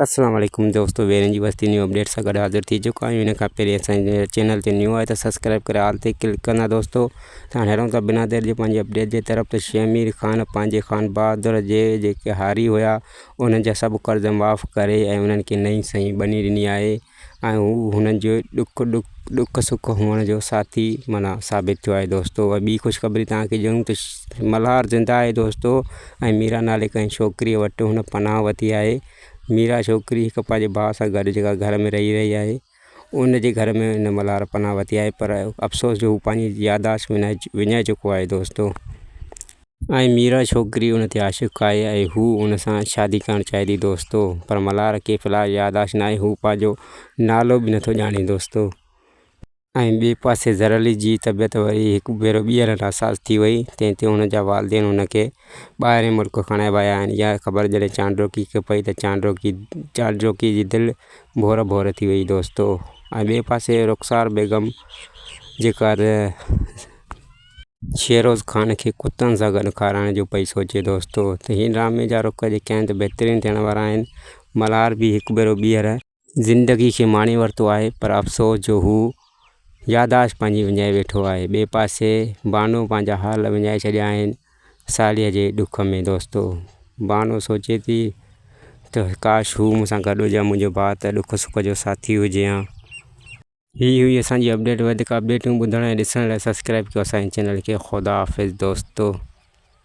اسلام عليڪم دوستو ويرين جي وستي نيو اپڊيٽ سان گڏ حاضر ٿي چڪو آهيان ان کان پهرين اسانجي چينل تي نيو آهي ته سبسڪرائب ڪري آل تي ڪلڪ ڪندا دوستو ته هاڻي هلون ٿا بنا دير جي پنهنجي اپڊيٽ جي طرف ته شيخ امير خان پنهنجي خان بهادر جي جيڪي هاري هيا انهن جا سڀ قرض معاف ڪري ۽ انهن کي نئين سئي ٻني ڏني آهي ۽ هو هنن جو ڏک ڏک سک هئڻ جو ساٿي معنيٰ ثابت ٿيو آهي دوستو ۽ ٻي خوشخبري تان کي ڏيون ته ملهار زنده آهي دوستو ۽ ميرا نالي ڪنهن ڇوڪريء وٽ هن پناهه وتي آهي ميرا ڇوڪري هڪ پنهنجي ڀاء سان گڏ جيڪا گهر ۾ رهي رهي آهي ان جي گهر ۾ هن ملهار پناهه وتي آهي پر افسوس جو هو پنهنجي ياداشت وڃائي وڃائي چڪو آهي دوستو ۽ ميرا ڇوڪري ان تي عاشق آهي ۽ هو ان سان شادي ڪرڻ چاهي ٿي دوستو پر ملهار کي في الحال ياداشت ناهي هو پنهنجو نالو به نٿو ڄاڻي دوستو ۽ ٻئي پاسي ظهر علي جي طبيعت وري هڪ ڀيرو ٻيهر ناساز ٿي وئي تنهن تي هن جا والدين هن کي ٻاهرين ملڪ کڻائي ويا آهن اها خبر جڏهن چانڊوڪي کي پئي ته چانڊوڪي چانڊوڪي جي دل ڀور ڀور ٿي وئي دوستو ۽ ٻئي پاسي رخسار بيگم جيڪا شيروز خان کي ڪتن سان گڏ کارائڻ جو پئي سوچي دوستو ته هن ڊرامي جا رخ جيڪي آهن بهترين ٿيڻ وارا آهن ملهار به هڪ ڀيرو ٻيهر زندگي کي ماڻي ورتو آهي پر افسوس جو هو ياداشت پنهنجي وڃائي ويٺو آهي ٻئي پاسي بانو پنهنجا حال وڃائي ڇڏيا آهن ساليء جي ڏک ۾ دوستو بانو سوچي ٿي ته ڪاش هو مون سان گڏ هجي ها منهنجو ڀاء ته ڏک سک جو ساٿي هجي ها. هي هئي اسان جي اپڊيٽ وڌيڪ اپڊيٽون ٻڌڻ ۽ ڏسڻ لاء سبسڪرائب ڪيو اسان جي چينل کي خدا حافظ دوستو